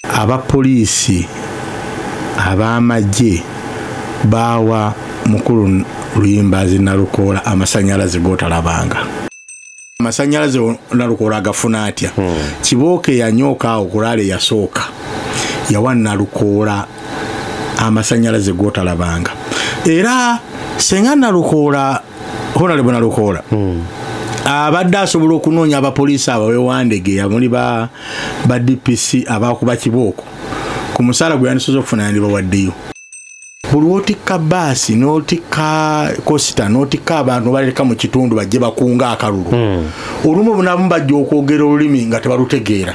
abapoliisi ab'amagye baawa mukulu luyimbazi nalukoola amasanyalaze gotalabanga amasanyalaze nalukoola agafuna atya hmm. kibooka eyanyooka awo kulaala eyasooka yawa nalukoola amasanyalaze gotalabanga era senga nalukoola honalebo nalukoola hmm. abadde asobola okunoonya abapoliisi abo bewandegeya muli ba dpc abakuba kibooko ku musaala gwe yandisoza okufuna yandibawaddeyo buli wotikka baasi notikka kosita notikka abantu baleka mu kitundu bajje bakunga akalulu hmm. olumu bunabumu bajja okwogera olulimi nga tebalutegeera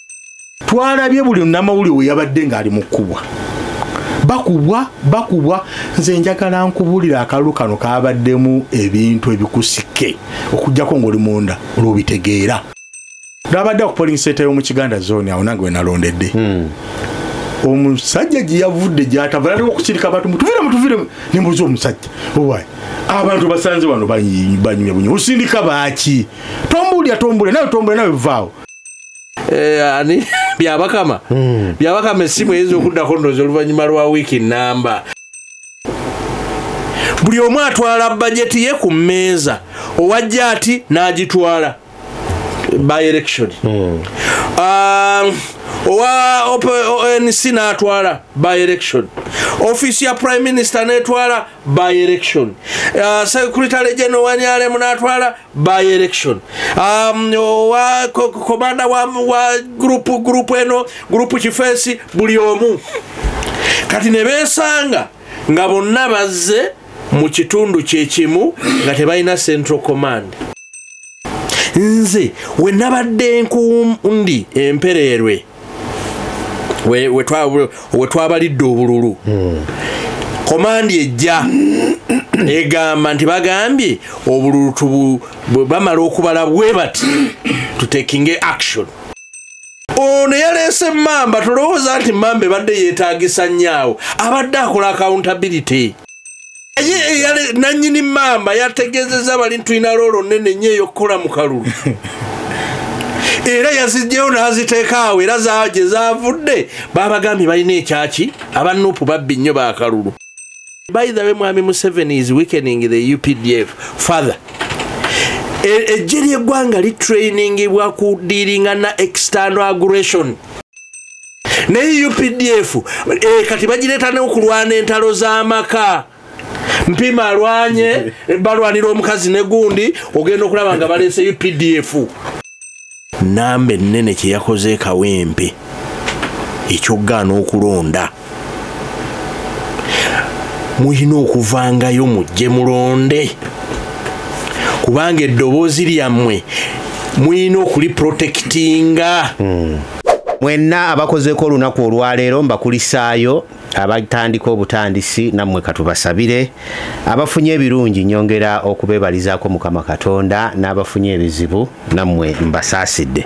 twalabye buli namawulire we yabadde ng'ali mu kkubwa bakubwa bakubwa nze njagala nkubulira akalulu kano kabaddemu ebintu ebikusike okujjako ngaoli munda olwobitegeera lwabadde ku poling center yomu kiganda zone awo nange wenalondedde hmm. omusajja gyeyavudde gyatavalaliwo okukirika abantu mutuvire mutuvire nembuza omusajja owaye abantu basanze wano banyumya bunyuma osindika baaki tombuulira tombuulira nawe tombuulira nawe vaawo Eh, ani byabakama hmm. byabakama esimu eyinza okuddako ndoozi oluvannyuma lwa wiiki namba buli omu atwala bajeti ye ku mmeeza owajja ati n'agitwala by election hmm. ah, owa onc n'atwala by election ofiisi ya prime minister n'etwala by election uh, secretary general wanyale munatwala by election um, wa komanda wa, wa group group eno group kifesi buli omu kati nebesanga nga bonna bazze mu kitundu kyekimu nga tebalina central command nze we nabadde nkundi empereerwe we twabalidde obululu hmm. komandi ejja egamba nti bagambye obululu bamala okubala bwe bati tutekinge action ono yaleese mamba tolowooza nti mamba ebadde yeetagisa nnyo awo abadde akola accountability naye nanyini maama yategezeza bali ntulina loolo nene nyo eyokukola mu kalulu era yazijjeyo n'aziteekaawo era gye zavudde babagambye balina ekyaki aba nupu babbi nnyo bakalulu by the way mwami museveni is weakening the updf father e, ejje ly'eggwanga litrainingibwa ku diiringa na external aggression naye updf eh, kati bagireeta neokulwana entalo z'amaka mpima alwanye balwanira omukazi negundi ogenda okulaba nga baleese updf namba ennene kyeyakoze ekawempe ekyokugaana okulonda mulina okuvangayo mujje mulonde kubanga eddoboozi lyammwe mulina okuliprotekitinga hmm. mwenna abakozeeko olunaku olwaleero mbakulisaayo abatandika obutandisi nammwe katubasabire abafunye ebirungi nyongera okubebalizaako mukama katonda n'abafunye ebizibu nammwe mbasaasidde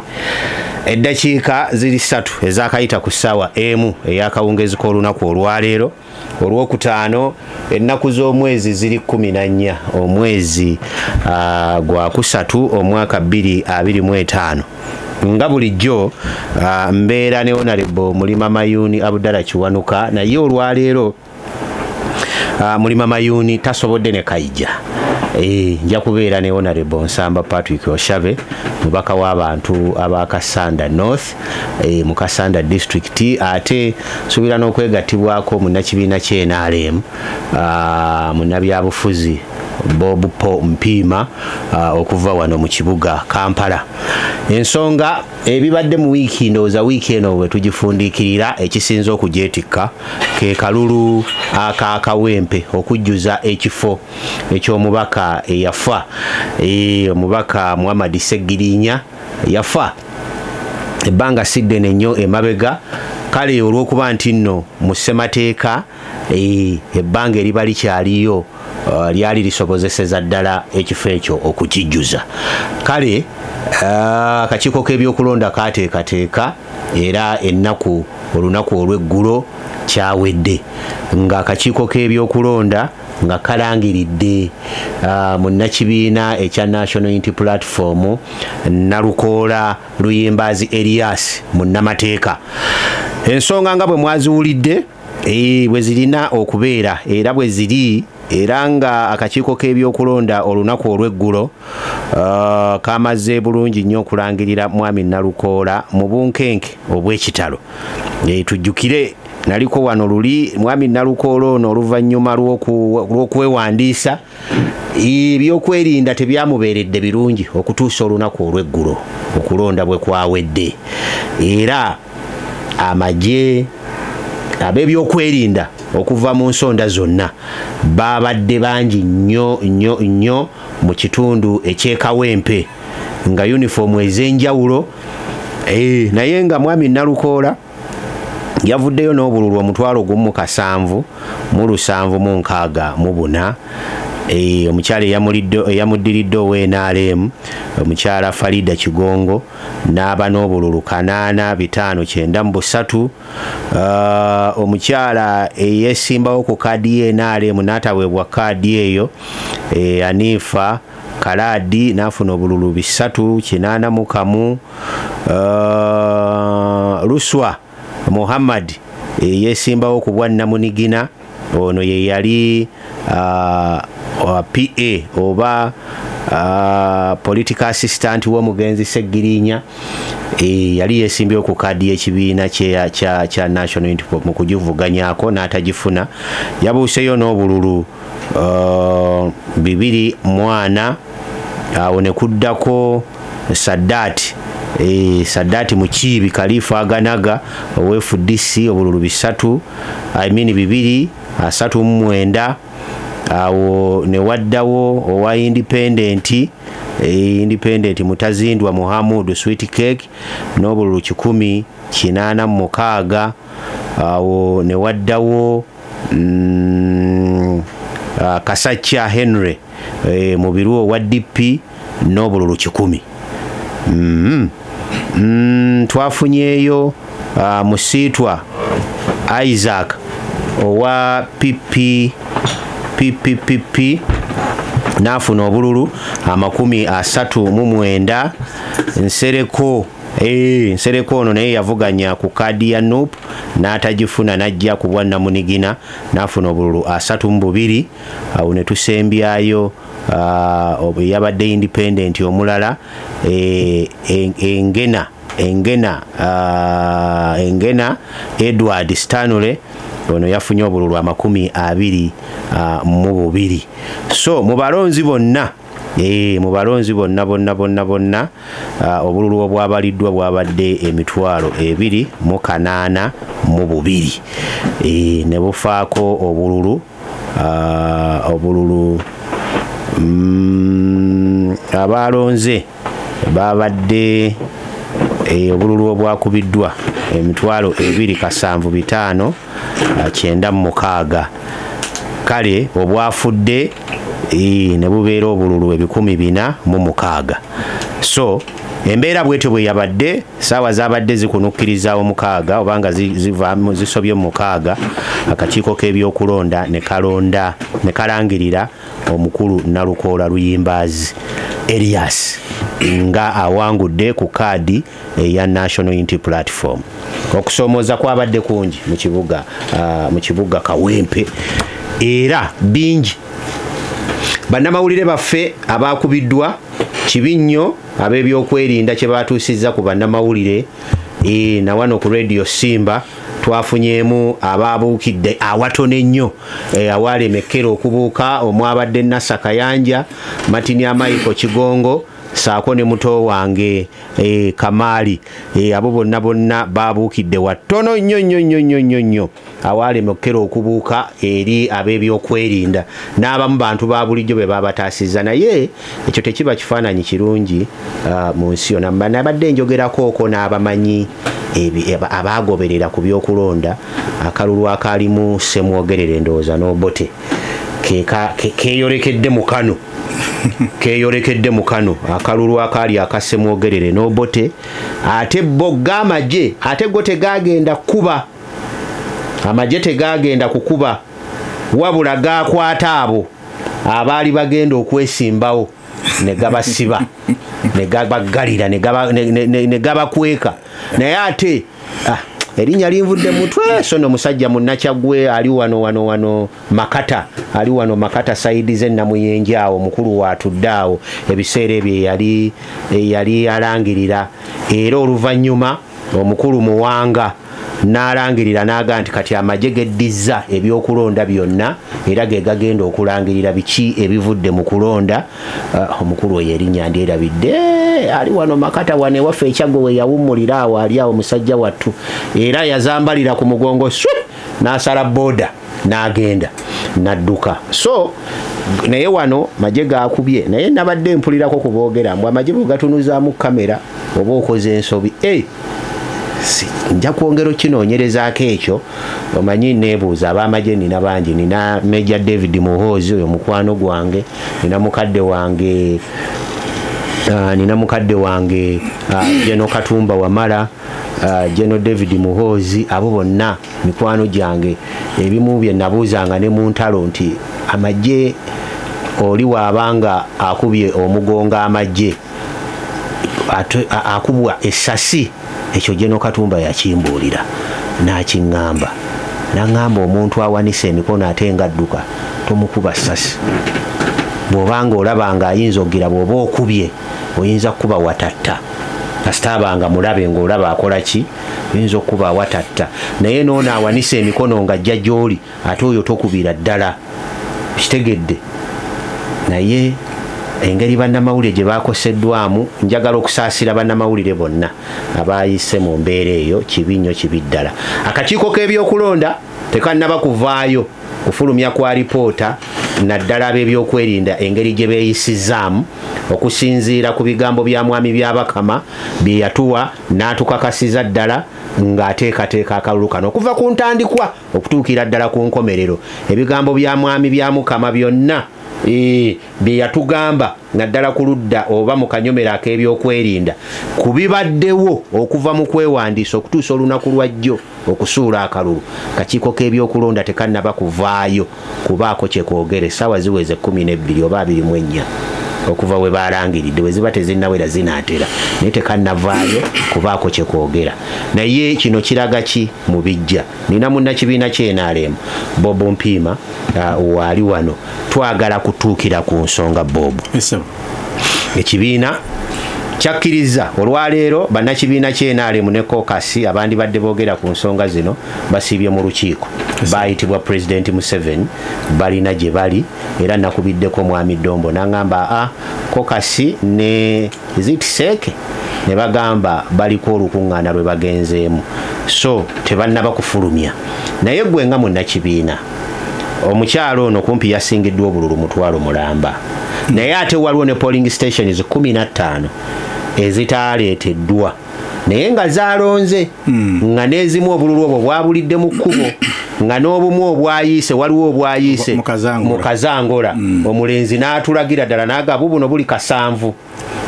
eddakiika ziri ssatu ezakayita ku ssaawa emu eyakawungeezi k'olunaku olwaleero olwokutaano ennaku z'omwezi ziri kumi na nnya omwezi ah, gwa kusatu omwaka bbiri abiri mu etaano nga bulijjo ah, mbeera ne onarebo mulima mayuuni abudala kiwanuka naye olwaleero ah, mulima mayuni tasobodde ne kaija eh, nja kubeera ne honorable nsamba patrick oshave mubaka w'abantu aba kasanda north eh, mu kasanda district ate suubira n'okwegattibwako munnakibiina kyenalem ah, munnabyabufuzi bob po mpiima ah, okuva wano mu kibuga kampala ensonga ebibadde mu wiiki ndowooza wiiki eno bwe tugifundikirira ekisinza okugyetikka ke kalulu akakawempe okujjuza ekifo eky'omubaka eyafa e, omubaka muhammadi segirinya yafa ebbanga siddene nnyo emabega kale olw'okuba nti nno mu ssemateeka ebbanga eriba likyaliyo uh, lyali lisobozeseza ddala ekifo ekyo okukijjuza kale uh, akakiiko k'ebyokulonda kateekateeka era ennaku olunaku olw'eggulo kyawedde nga akakiiko k'ebyokulonda nga kalangiridde uh, munnakibiina ekya national unity platform nalukoola luyimbaazi elias munnamateeka ensonga nga bwe mwaziwulidde Eh, bwe zirina okubeera era bwe ziri era nga akakiiko k'ebyokulonda olunaku olw'eggulo uh, kamaze bulungi nnyo okulangirira mwami nalukoola mu bunkenke obw'ekitalo eh, tujjukire naliko wano luli mwami nalukoola ono oluvannyuma lw'okwewandiisa ebyokwerinda tebyamubeeredde birungi okutuusa olunaku olw'eggulo okulonda bwe kwawedde era amagye ab'ebyokwerinda okuva mu nsonda zonna baabadde bangi nnyo nnyo nnyo mu kitundu ekyekawempe nga yunifoomu ez'enjawulo eh, naye nga mwami nalukoola yavuddeyo n'obululu omutwalo gumu kasanvu mu lusanvu mu nkaaga mu buna Eh, omukyala eyamuddiridde ownrm omukyala farida kigongo n'aba n'obululu kanaana bitaano kyenda mu busatu ah, omukyala eyesimbawo ku kaadi ye nrm n'ataweebwa kaadi eyo eh, aniifa kalaadi n'afuna obululu bisatu kinaana mu kamu uh, luswa muhammad eyesimbawo ku bwa namunigina ono ye yali uh, uh, pa oba uh, political assistant w'omugenzi seggirinya e, yali yesimbyewo ku kaadi y'ekibiina kya national mu kugivuganyako n'atagifuna yabuuseyo n'obululu uh, bibiri mwana awo ne kuddako saddaati e, saddaati mukiibi kaliifa aganaga owefudc obululu bisatu i mean bibiri asatu mu mwenda awo ne waddawo owa indipendenti e, indipendenti mutazindwa muhamudu sweet cake n'obululu kikumi kinaana mu mukaaga awo ne waddawo mm, ah, kasakya henry eh, mubiru owa dp n'obululu kikumi mm-hmm. mm, twafunyeyo ah, musiitwa isaac owa pipi pipi pipi n'afuna obululu amakumi asatu mu mwenda nsereko Eee, eh, nsereko ono naye yavuganya ku kaadi ya nup n'atagifuna n'ajja ku bwannamunigina n'afuna obululu asatu mu bubiri awo ne tusembyayo ah, yabadde independenti omulala eh, engena engena ah, engena edward stanley ono yafunye obululu amakumi abiri ah, mu bubiri so mu balonzi bonna Eh, mu balonzi bonna bonna bonna bonna ah, obululu obwabaliddwa bwabadde emitwalo ebiri mu kanaana mu bubiri eh, ne bufaako obululu ah, obululu mm, abaalonze baabadde eh, obululu obwakubiddwa emitwalo ebiri kasanvu bitaano ah, kyenda mu mukaaga kale obwafudde ne bubeera obululu ebikumi bina mu mukaaga so embeera bwetyo bwe yabadde saawa zabadde zikunukkiriza omukaaga obanga zivaamu zisobye omukaaga akakiiko k'ebyokulonda ne kalonda ne kalangirira omukulu nalukoola luyimbaazi erias nga awangudde ku kaadi eya national unity platform okusomooza kwabadde kungi mu kibuga ah, mu kibuga kawempe era bingi bannamawulire baffe abaakubiddwa kibi nnyo ab'ebyokwerinda kye baatuusizza ku bannamawulire e, na wano ku radio simba twafunyeemu abaabuukidde awatono ennyo e, awaalemekkera okubuuka omwabadde nasa kayanja matini amaiko kigongo saako ne muto wange e, kamaali e, abo bonna bonna babuukidde wattono nnyo nnyo nnyo nnyo nnyo nnyo awaalema okukera okubuuka eri ab'ebyokwerinda n'abamu bantu ba bulijjo be babataasizza naye ekyo tekiba kifaananyi kirungi uh, mu nsi yona nabadde njogerakooko n'abamanyi abaagoberera ku byokulonda akalulu akaalimu semwogerera endowooza n'obote keyolekedde mu kano keyolekedde mu kano akalulu akaali akasemwogerere n'obote ate bo gamagye ate go tegagenda kukuba amagye tegagenda kukuba wabula gakwata abo abaali bagenda okwesimbawo ne gabasiba ne gabaggalira ne gabakweka naye ate ah, erinnya linvudde mutwe so no musajja munnakyagwe ali wano wano wano makata ali wano makata saidi ze namuyenje awo mukulu watudde awo ebiseera ebyo eyali eyali alangirira era oluvannyuma omukulu muwanga n'alangirira n'aga nti kati amagye geddizza ebyokulonda byonna era ge gagenda okulangirira biki ebivudde mu kulonda Ah, omukulu oyo erinnya ndyerabidde eh, ali wano makata wano ewaffe ekyaggo we yawummulira awo ali awo musajja wattu era yazambalira ku mugongo swi n'asala booda n'agenda n'adduka so naye wano maje gakubye naye nabadde mpulirako kuboogera mbu amaje bwe gatunuzaamu kamera oba okoze ensobi e nja kwongera okinoonyerezaako ekyo omanyi neebuuza ab'amagye nina bangi nina major david muhoozi oyo mukwano gwange nina mukadde wange uh, nina mukadde wange uh, geno katumba wamala uh, geno david muhoozi abo bonna mikwano gyange ebimu bye nabuuzanga ne mu ntalo nti amagye oli waabanga akubye omugongo amagye akubwa esasi ekyo jeno katumba yakimbuulira nakiŋŋamba naŋŋamba omuntu awanise emikono ate nga adduka tomukuba sasi bwoba nga olaba nga ayinza okugira bwoba okubye oyinza kukuba watatta kasita abanga mulabe ngaolaba akola ki oyinza okukuba watatta naye noono awanise emikono nga ajja gyoli ate oyo tokubira ddala kitegedde naye engeri bannamawulire gye bakoseddwamu njagala okusaasira bannamawulire bonna abayise mu mbeera eyo kibi nnyo kibi ddala akakiiko k'ebyokulonda tekannaba kuvaayo kufulumya kwa lipoota naddala ab'ebyokwerinda engeri gye beeyisizaamu okusinziira ku bigambo bya mwami byabakama bye yatuwa n'atukakasiza ddala ng'ateekateeka akalulu kano okuva ku ntandikwa okutuukira ddala ku nkomerero ebigambo bya mwami bya mukama byonna e, bye yatugamba naddala ku ludda oba mu kanyomero ak'ebyokwerinda ku bibaddewo okuva mu kwewandiisa okutuusa olunaku lwa jjo okusuula akalulu kakiiko k'ebyokulonda tekannaba kuvaayo kubaako kye kwogera essaawa ziweze kkumi n'ebbiri oba abiri mu ennya okuva we baalangiridde bwe ziba tezinnawera zinaatera naye tekannavaayo kubaako kye kwogera naye kino kiraga ki mu bijja nina munnakibiina kyenaalemu bob mpiima uh, waali wano twagala kutuukira ku nsonga bob ekibiina kyakkirizza olwaleero bannakibiina kyenaalemu ne kokasi abandibadde boogera ku nsonga zino basiibye mu lukiiko baayitibwa pulezidenti museveni balina gye bali era nakubiddeko omwami dombo nangamba a ah, kokasi ne zitiseeke ne bagamba baliko olukuŋŋaana lwe bagenzeemu so tebannaba kufulumya naye gwe nga munnakibiina omukyalo ono kumpi yasingiddwa obululu mutwalo mulamba naye ate waliwo ne polling stations 15 ezitaaleeteddwa naye nga zalonze hmm. nga n'ezimu obululu obwo bwabulidde mu kkubo nga n'obumu obwayiise waliwo obwayiise mu kazangola hmm. omulenzi n'atulagira ddala n'agabu buno buli kasanvu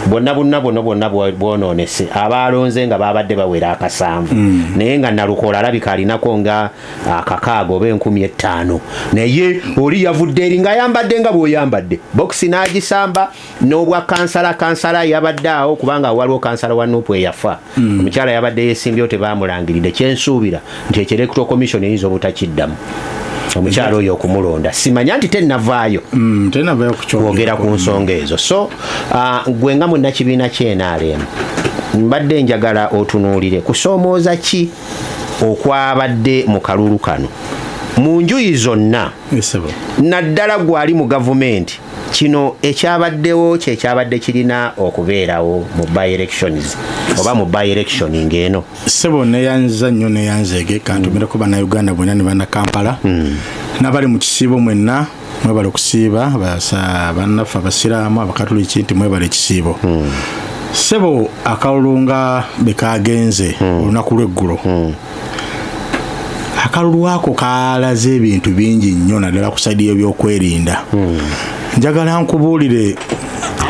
bonna bunna buno bwonna bwononese abaalonze nga babadde bawera akasanvu mm. naye nga nalukola alabika alinako nga akakaaga oba enkumi ettaano naye oli yavudde eri nga ayambadde nga bweoyambadde bokisi n'agisamba n'obwa kansala kansala yabadde awo kubanga waliwo kansala wa nupu eyafa hmm. omukyala yabadde yesimbyewo tebamulangiridde kyensuubira nti ekyo electoral commission eyinza obutakiddamu omukyalo oyo okumulonda simanya nti tenavaayo mm, kwogera ku nsonga ezo so uh, gwe nga munakibiina kyenaremu mbadde njagala otunuulire kusoomooza ki okwabadde mu kalulu kano mu njuyi zonna naddala gwali mu gavumenti kino ekyabaddewo kyekyabadde kirina okubeerawo mu byelections oba mu byeelection ngaeno sebo neyanza nnyo neyanzeege kantumireko banauganda bwena ne banakampala hmm. nabali mu kisiibo mwenna mwebale okusiiba bannaffe abasiraamu abakatuliki nti mwebale ekisiibo hmm. sebo akalulu nga bekagenze hmm. olunaku lweggulo akalulu ako kalaze ebintu bingi nnyo naddala ku saidi yebyokwerinda hmm. njagala nkubuulire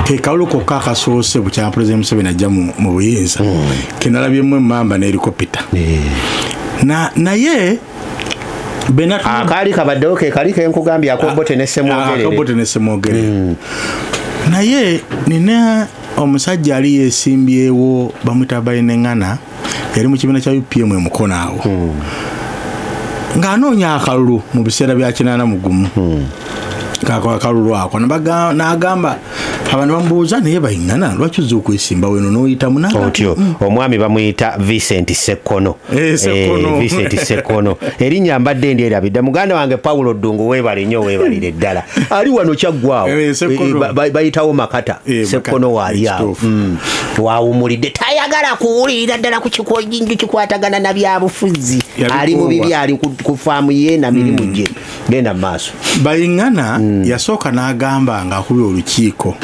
kekalulu kokka akasoose bukyama pulezidenti museveni ajja mu buyinza hmm. kenalabyemu emamba nelikopita hmm. naye akaali kabaddewo kekali kenkugambye akobote nesemwogerere naye nina omusajja ali yesimbyewo bamwita bayineŋana yali mu kibiina kya upm emukono awo hmm. ng'anoonya akalulu mu biseera bya kinaana mu gumu hmm. akalulu ako n'agamba abantu bamubuuza naye bayingana lwaki oza okwesimba weno noyitamu otyo mm. omwami bamuyita vicent sekkono eh, eh, vicent sekkono erinnya mbadde ndi erabidda muganda wange paulo ddungu webale nnyo webalire ddala ali wano kyaggwawo eh, bayitawo makata sekkono waalyawo mm. twawumulidde tayagala kuwulirira ddala ku kikoinju kikwatagana na byabufuzi ali mu bibi ali ku faamu ye na mirimu hmm. gye genda mu maaso bayingana hmm. yasooka n'agamba nga akubi olukiiko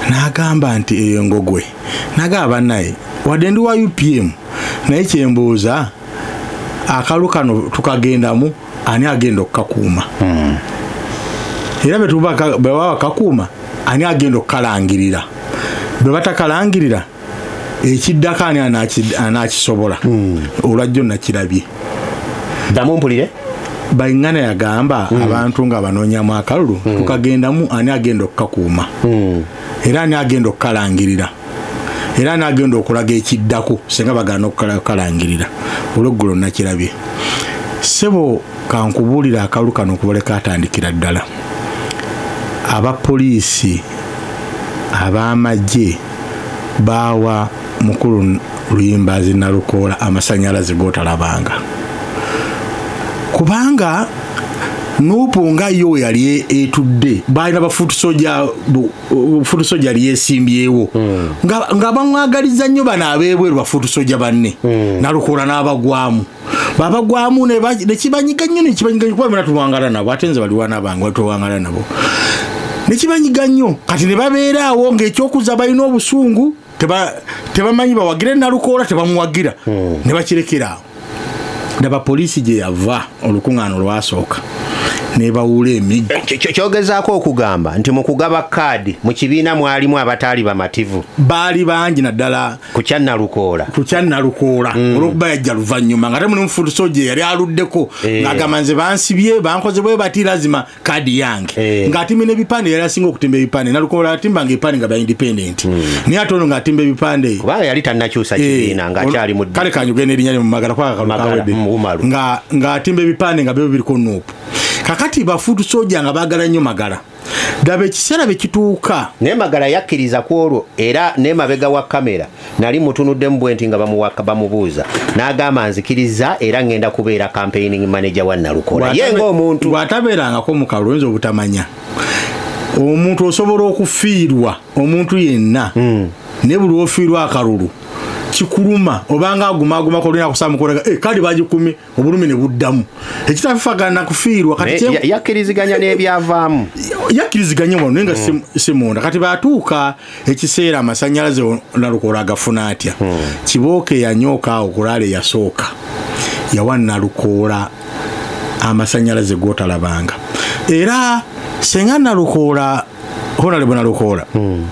n'agamba nti eyo engogwe nagamba naye wadde ndi wa upm naye kyembuuza akalu kano tukagendamu ani agenda okukakuuma hmm. era bwebaba bakakuuma ani agenda okukalangirira bwe batakalangirira ekiddako ani anakisobola hmm. olwajjo nakirabye damu mpulire baingana yagamba mm. abantu nga banoonyamu akalulu mm. tukagendamu ani agenda okukakuuma mm. era ani agenda okukalangirira era nagenda okulaga ekiddako singa bagana okukalangirira olweggulo nakirabye sebo kankubuulira akalulu kano okubale katandikira ddala abapoliisi ab'amagye baawa mukulu luyimbazi nalukoola amasanyalaze gotalabanga kubanga nupu nga yo weyali etudde baalina bafuutusoja futu soja yali yesimbyewo hmm. nga bamwagaliza nnyo bano abeebweru bafutu soja banne hmm. nalukoola n'abagwamu babagwamu nekibanyiga nnyo nekibanyiga nyo kuba bena tuwangala nabo ate nze baliwana bange batwewangala nabo nekibanyiga nnyo kati ne babeeraawo ngaekyokuza balina obusungu tebamanyi bawagire nalukoola tebamuwagira hmm. ne bakirekeraawo ndaba poliisi gye yava olukuŋŋaana olwasooka nebawula emiggo eh, kyogezaako okugamba nti mu kugaba kaadi mu kibiina mwalimu abataali bamativu baali bangi naddala ku kyannalukoola ku kyannalukoola hmm. olwokuba yajja luvannyuma nga te muli mufutuso gye yali aluddeko eh. ng'agamba nze bansibye bankoze bwe bati lazima kadi yange eh. ng'atimba n'ebipande yali asinga okutimba ebipande nalukola atimbanga ebipande nga bya independent hmm. naye ate ono ng'atimba ebipande kubanga yali tanakyusa eh, kibiina ng'akyali mu kale kanyuge n'erinya lye mu magala kwaka kalukawedde ng'atimba ebipande nga byo biriko nuupu kakati bafuutu soja nga baagala nnyo magala daba ekiseera bye kituuka naye magala yakkiriza ku olwo era n'emabega wa kamera nali mutunuddemu bwenti nga bamuwaka bamubuuza n'agamba nzikiriza era ngenda kubeera campaigning manager wa nalukola ye ngaomuntu bw'atabeerangako mu kalulu oyinza obutamanya omuntu osobola okufiirwa omuntu yenna hmm. ne buli ofiirwa akalulu kikuluma obanga agumagumako olina kusamukolega eh, kale bagikumye obulumi ne buddamu ekitafagana kufiirwa katiyakkiriziganya n'ebyavaamu yakkiriziganya wano naye nga hmm. si munda kati batuuka ekiseera amasanyalaze nalukola agafuna atya hmm. kibooka eyanyooka awo kulaala eyasooka yawa nalukoola amasanyalaze gotalabanga era senga nalukoola honalebo nalukoola hmm.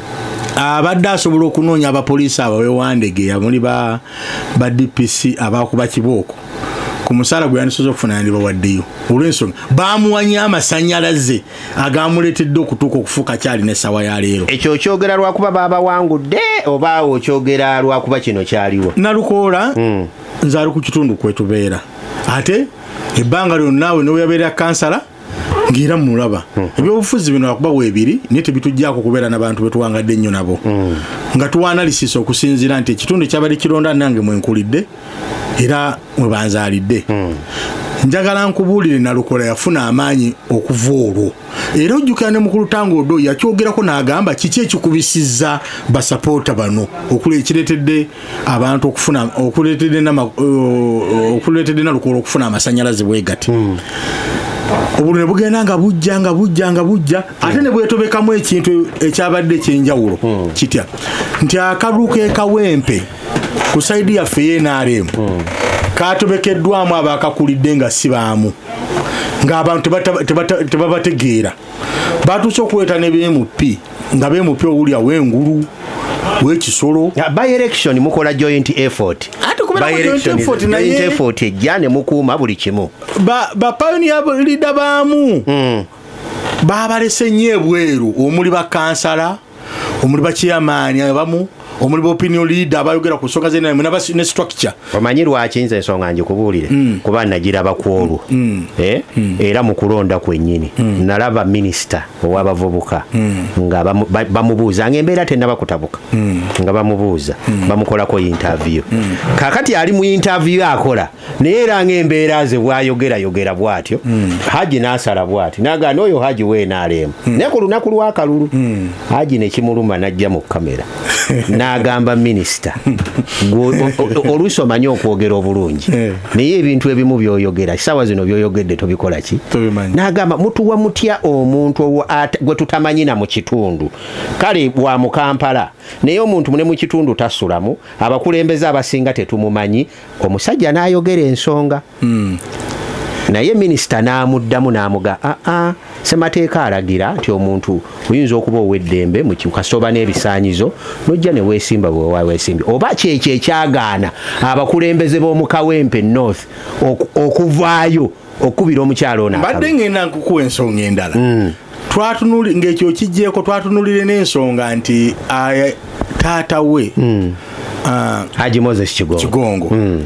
abadde asobola okunoonya abapoliisi abo bewandegeya muli ba dpc abakuba kibooko ku musaala gwe yandisoza okufuna yandibawaddeyo olwensonga bamuwanye amasanyalaze agamuleetedde okutuuka okufuuka kyali nesawa ya leero ekyo okyogera lwakuba babawangudde oba okyogera lwakuba kino kyaliwo nalukoola hmm. nze ali ku kitundu kwetubeera ate ebbanga lyonna we noweyabeera kansala ng'era mulaba hmm. ebyobufuzi bino akuba weebiri naye tebitujjaako okubeera nabantu betuwangadde ennyo nabo hmm. nga tuwanalisisa okusinziira nti ekitundu kyabadde kironda nange mwenkulidde era mwebanzaalidde hmm. njagala nkubuulire nalukola yafuna amaanyi okuva olwo era ojjukira ne mukulu tanga odo yakyogerako n'agamba kiki ekikubisizza basapoota bano okula ekireetedde abantu okufuna okuletede na okuletede na lukolo okufuna amasanyalaze bwegati mm. obulune bugenda nga bujja nga bujja nga bujja mm. ate ne bwetobekamu ekintu ekyabadde ekyenjawulo mm. kitya nti akaluka ekawempe ku saidi yaffe yenrm mm. katobekeddwamu abakakulidde nga sibaamu ng'abantu tebabategeera batuuse okuleeta ne bmp nga bmp owulya wengulu wekisolo byelection mukola joint effort effort ejja ne mukuuma buli kimu bapayoniya lida baamu hmm. babalese nyo ebweru omuli bakansala omuli bakyeyamaani abamu omuli baopinion leader abayogera ku nsonga zenamwe ne structure omanyi lwaki nze ensonga ngikubuulire hmm. kuba nagiraba ku olwo hmm. Eh? Hmm. era mu kulonda kwennyini nalaba minisita ow'abavubuka nga bamubuuza nga embeera tenaba kutabuka nga bamubuuza bamukolako yintaviyo kakati ali mu yintaviyo akola naye era ngaembeera ze bwayogerayogera bwatyo hmm. haji nasala bwati naga noyo haji wenaleemu hmm. naye ku lunaku lwakalulu hmm. haji nekimuluma najja mu kamera nagamba minisita oluusi omanyi okwogera obulungi eh. naye ebintu ebimu byoyogera sawa zino byoyogedde tobikola ki nagamba mutuwa mutya omuntu gwe tutamanyina mu kitundu kale wa mukampala naye omuntu mune mu kitundu tasulamu abakulembeze abasinga tetumumanyi omusajja n'ayogera ensonga hmm. naye minisita n'amuddamu n'amuga aa ah, ah, semateeka alagira nti omuntu oyinza okuba ow'eddembe mukasooba n'ebisaanyizo nojja ne weesimba bwewa weesimbi oba kyekyo ekyagaana abakulembeze b'omukawempe north okuvaayo okukubira omukyala ono mbadde ngenda nkukuwa ensonga endala hmm. twatunuli ng'ekyo kigyeko twatunulire n'ensonga nti taata we hmm. haji moses kigongo hmm.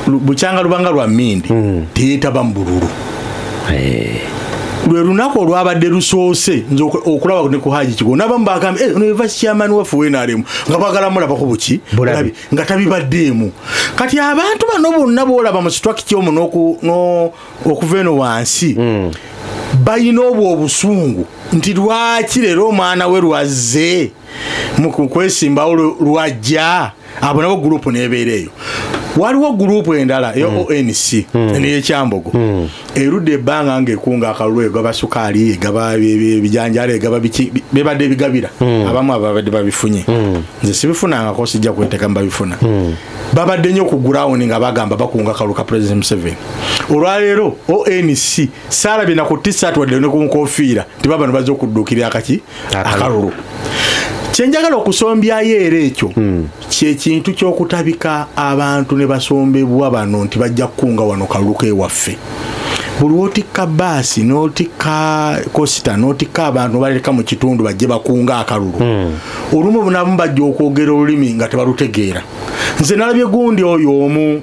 bukyanga lubanga lwa mindi teyetaba mu bululu eh. lwe lunaku olwabadde lusoose nze okulaba ne ku haji kigongo nabamu bagambye eh, ono eva chairman waffe wenaremu nga bagala mulabako buki nga tabibaddeemu kati abantu bano bonna boolaba mu situakiti omu okuva eno wansi hmm. balina obwo obusungu nti lwaki leero omwana we lwazze mu kwesimbawo lwajja abo nabo gurupu nebeera eyo waliwo gurupu endala eyo hmm. onc hmm. neyekyambogo erudde ebbanga ngaekunga akalulu egaba sukaali egaba ebijanjalo egaba biki bebadde ebigabira hmm. abamu ababadde babifunye hmm. nze sibifunangako sijja kwetekamu babifuna hmm. babadde nnyo ku gurawundi nga bagamba bakunga kalulu ka president museveni olwaleero onc saala byena ku tisat wadde ne ku nkofiira nti babano bazze okudduukirira akaki akalulu kyenjagala okusombyayo era ekyo kyekintu kyokutabika abantu ne basombebwa bano nti bajja kukunga wano kalulu kewaffe buli wotikka baasi notikka kosita notikka abantu baleka mu kitundu bajje bakunga akalulu hmm. olumu bunamu bajja okwogera olulimi nga tebalutegeera nze nalabye gundi oyo omu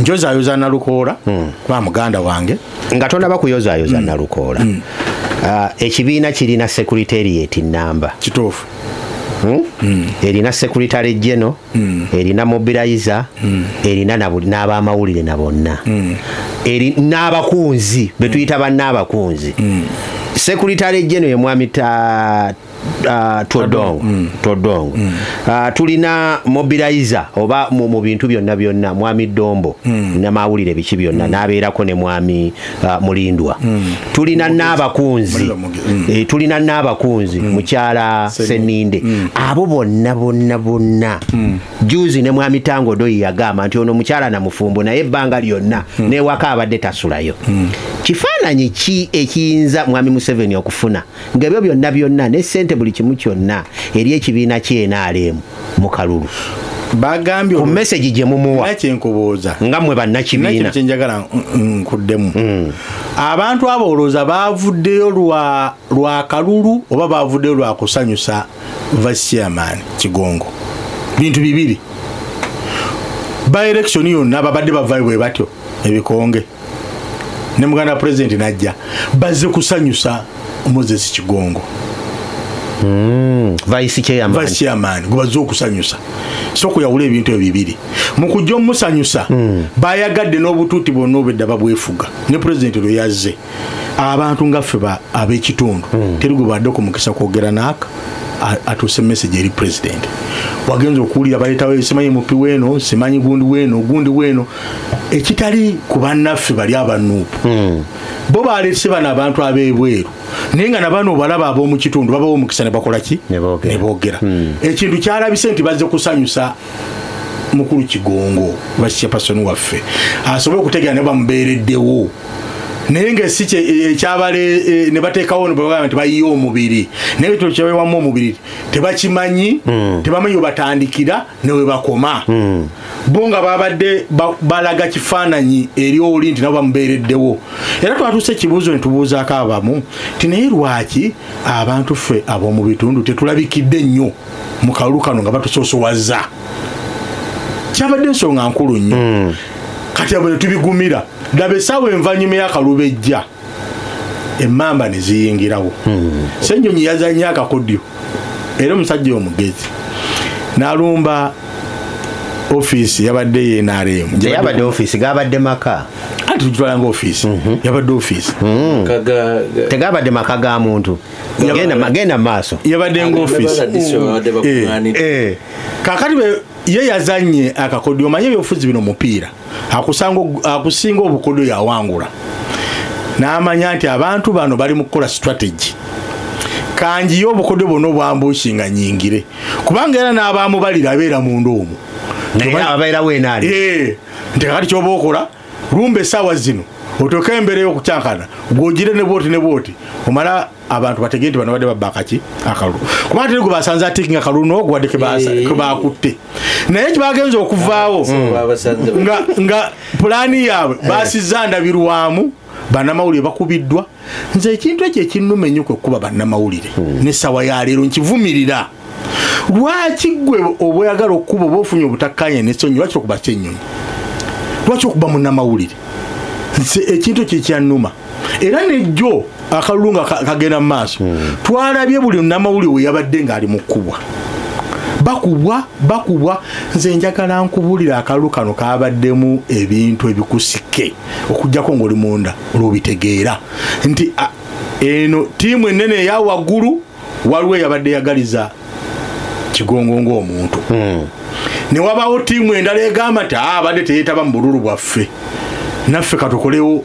njozayoza nalukoola hmm. kuba muganda wange nga tonaba kuyozayoza hmm. nalukoola hmm. ah, ekibiina kirina secretariat namba kituufu erina secretary geno erina mobilizer erina n'abamawulire na bonna n'abakunzi betuyita bannaabakunzi secretary geno ye mwami Ah, todong mm. todong mm. Ah, tulina mobilizer oba mu bintu byonna byonna mwami dombo mm. namawulire biki byonna nabeerako ne mwami ah, mulindwa tulina n'abakunzi eh, tulina n'abakunzi mukyala seninde abo bonna bonna bonna juzi ne mwami tango doyi yagamba nti ono mukyala na mufumbo naye ebbanga lyonna newaka abadde tasulayo kifaananyi ki ekiyinza mwami museveni okufuna nga ebyo byonna byonna ne ssente buli kimu kyonna eri ekibiina kyenaalemu mu kalulu bagambye ku message gye mumuwa kyenkubuuza nga mwe bannakibiina kyenjagala nkuddemu mm. abantu abo olowooza baavuddeyo lwa kalulu oba baavuddeyo lwa kusanyusa vasiaman kigongo bintu bibiri by election yonna babadde bavayo bwe batyo ebikonge ne muganda wa pulezidenti n'ajja bazze kusanyusa moses kigongo hmm, vice chairman gwe bazze okusanyusa soka oyawula ebintu ebyo bibiri mu kujja omusanyusa hmm. bayagadde n'obutuuti bwonna obedda babwefuga ne pulezidenti lwe yazze abantu nga ffe ab'ekitundu hmm. teri gwe badde okumukisa kwogera naaka atuuse message eri president wagenza okuwulira baletawo simanyi mupi weno simanyi gundi weno gundi weno ekitali ku bannaffe bali abanuupu hmm. bo balese bano abantu abebweru naye nga nabano obalaba ab'omu kitundu babawo omukisa ne bakola ki ne boogera hmm. ekintu kyalabise nti bazze kusanyusa mukulu kigongo basipasoni waffe asobole okutegera ne bamubeereddewo naye nga si ekyabale e, e, ne bateekawo nebagamba nti bayiye omubiri naye kino kyebawamu omubiri tebakimanyi hmm. tebamanyi webatandikira newebakoma hmm. bo nga babadde balaga kifaananyi eri oli nti nabo bamubeereddewo era twatuuse ekibuuzo ne tubuuzaako abamu nti naye lwaki abantu ffe ab'omu bitundu tetulabikidde nnyo mu kalulu kano nga batusoosowaza kyabadde ensonga nkulu nnyo hmm. kati abo ne tubigumira daba esaawa envanyuma y'akalubejja emamba ne ziyingirawo hmm. ssennyonyi yazannye akakodyo era omusajja omugezi n'alumba ofiisi yabadde yenaremu yabadde ofiisi gabadde maka anti tujitwala nga ofiisi mhm. yabadde ofiisi hmm. tegabadde maka ga muntu genda maaso yabadde nga ofiisi eh. eh. kakati ye yazanye akakodyo omanye ebyobufuzi bino mupiira akusinga obukodo yawangula n'amanya nti abantu bano bali mu kukola strategy kanjiye obukodo bwona obwambuusi nga nyingire kubanga era n'abaamubalira abeera munda omu eh, nti kakati kyoba okola lumba esaawa zino otoka embera eyokukyankana gwogire ne bwoti ne bwoti omala abantu bategee nti bano badde babba akaki akalulu kuba ate gwe basanze atiki nga kalulu noo gwadde kebakutte naye kibagenza okuvaawo nga pulaani yaabwe basiza ndabirwamu banamawulire bakubiddwa nze ekintu ekyo ekinnuma ennyo kwe kukuba bannamawulire hmm. nesawa yaleero nkivumirira lwaki gwe obweyagala okukuba oba ofunye obutakkanya nesonyi lwaki okuba kyenyonyi lwaki okuba munamawulire nze ekintu ekyo ekyanuma era nejjo akalulu nga kagenda mu maaso hmm. twalabye buli namawulire weyabadde ngaali mu kkubwa bakubwa bakubwa nze njagala nkubulira akalulu kano kabaddemu ebintu ebikusike okujjako ngaoli munda olwobitegeera nti eno tiimu enene eya waggulu waliwo eyabadde yagaliza kigongo ngaomuntu hmm. newabawo tiimu endala egamba ti abadde ah, teyetaba mu bululu bwaffe naffe katukolewo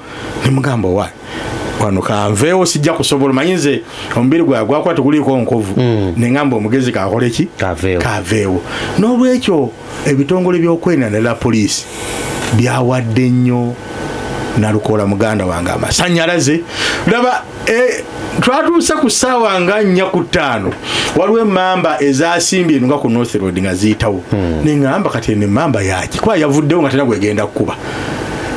nemugamba wa wano kanveewo sijja kusobola manyi nze omubiri gwae gwakuba teguliiko nkovu hmm. nengamba omugezi kakole ki kaveewo n'olwekyo ebitongole byokwerinda nala poliisi byawadde nnyo nalukola muganda wange amasanyalaze laba Eh, twatuuse ku ssaawa nga nnya ku ttaano waliwo emamba ezasimbye eno nga ku north road nga ziyitawo hmm. neŋamba kati eno emamba yaki kuba yavuddewo nga tena gwegenda kukuba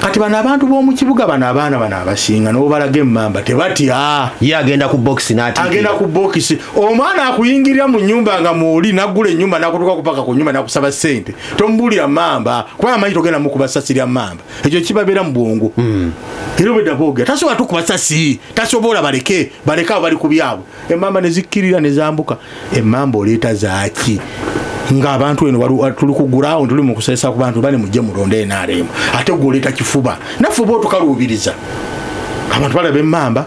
kati bano abantu b'omu kibuga bano abaana bano abasinga nobalaga emamba tebatya ye agenda ku bokisi agenda ku bokisi omwana akuyingirira mu nyumba nga muoli nagula enyumba nakutuka kupaka ku nyumba nakusaba sente tomubuulira mamba kuba amanyi togenda mukuba sasi lya mamba ekyo kibabeera mu bwongo hmm. era obwedda boogera tasobola tukubasa si tasobola baleke baleke abo bali ku byabwe emmamba ne zikkirira ne zambuka emmamba oleeta zaaki ngaabantu eno tuli kugurawo tuli mukusesa ku bantu bane mujje mulonde enaremu ate gwoleeta kifuba naffe oba otukaluubiriza abantu balaba emmamba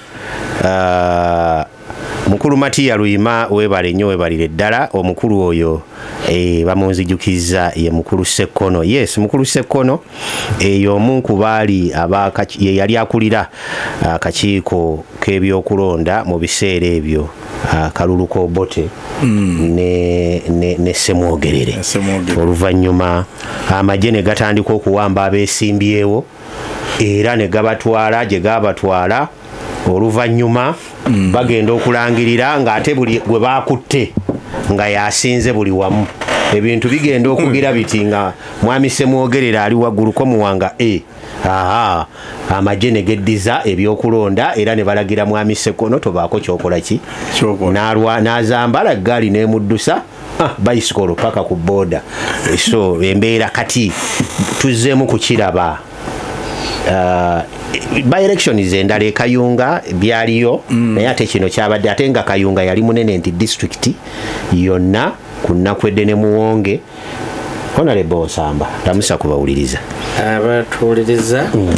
uh, mukulu matiya luyima webale nnyo webalire ddala omukulu oyo e, bamunzijukizza ye mukulu sekkono yes mukulu sekkono eyo omu ku baali ye yali akulira akakiiko k'ebyokulonda mu biseera ebyo akalulu k'obote mm. ne semwogerere oluvannyuma amagye ne gatandika okuwamba abeesimbyewo era ne gabatwala gye gaabatwala oluvannyuma mm. bagenda okulangirira ng'ate buli gwe baakutte nga yasinze buli wamu ebintu bigenda okugira hmm. biti nga mwami semwogerera ali wagguluko muwanga e aha amagye ne geddiza ebyokulonda era ne balagira mwami sekono tobaako kyokola ki n'azambala eggaali n'emuddusa ah, bayisikolo paka ku boda eh, so embeera kati tuzzeemu kukiraba uh, by election is endala ekayunga byaliyo mm. naye ate kino kyabadde ate nga kayunga yali munene nti district yonna ku nnaku edde ne muwonge honalebo osamba lamusa kubawuliriza abatuwuliriza mm.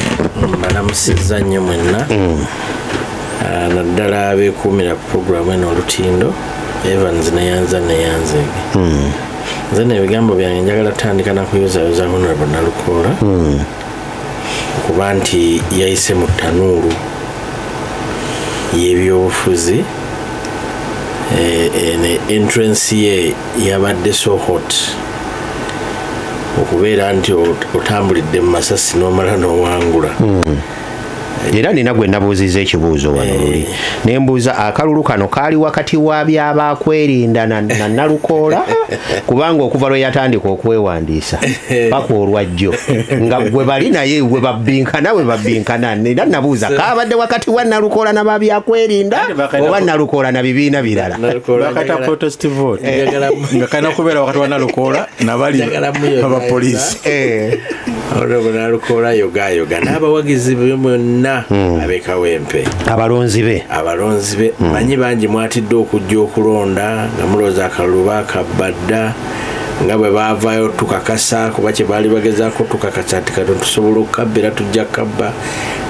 mbalamusizza nnyo mwenna mm. Ah, naddala abekuumira ku puroguramu eno olutindo evans neyanza neyanze hmm. nze nebigambo byange njagala tutandika nakuyozayoza honorable nalukoola hmm. okuba nti yayise mu tanuulu yebyobufuzi eh, eh, ne entrance ye yabadde so hot okubeera nti otambulidde mu masasi nomala nowangula hmm. era nina gwe nabuuziza ekibuuzo wano eh. luli ne mbuuza akalulu kano kaali wakati wa byabaakwerinda na nalukoola kubanga okuva lwe yatandika okwewandiisa paka olwajjo nga gwe bali naye we babbinkana we babbinkana era nabuuza kaabadde wakati wa nalukoola na babyakwerinda oba nalukoola na bibiina birala eh. nga kalina kubeera wakati wa nalukoola nabali abapoliisi eh. olwobunalukola yogayoga n'abawagizi be mwonna hmm. abekawempe abalonzi be abalonzi be hmm. manyi bangi mwatidde okujja okulonda nga mulooza akalulu bakabbadda nga bwe baavaayo tukakasa kuba kye baali bagezaako tukakasa nti kati tusobola okukabba era tujja kukabba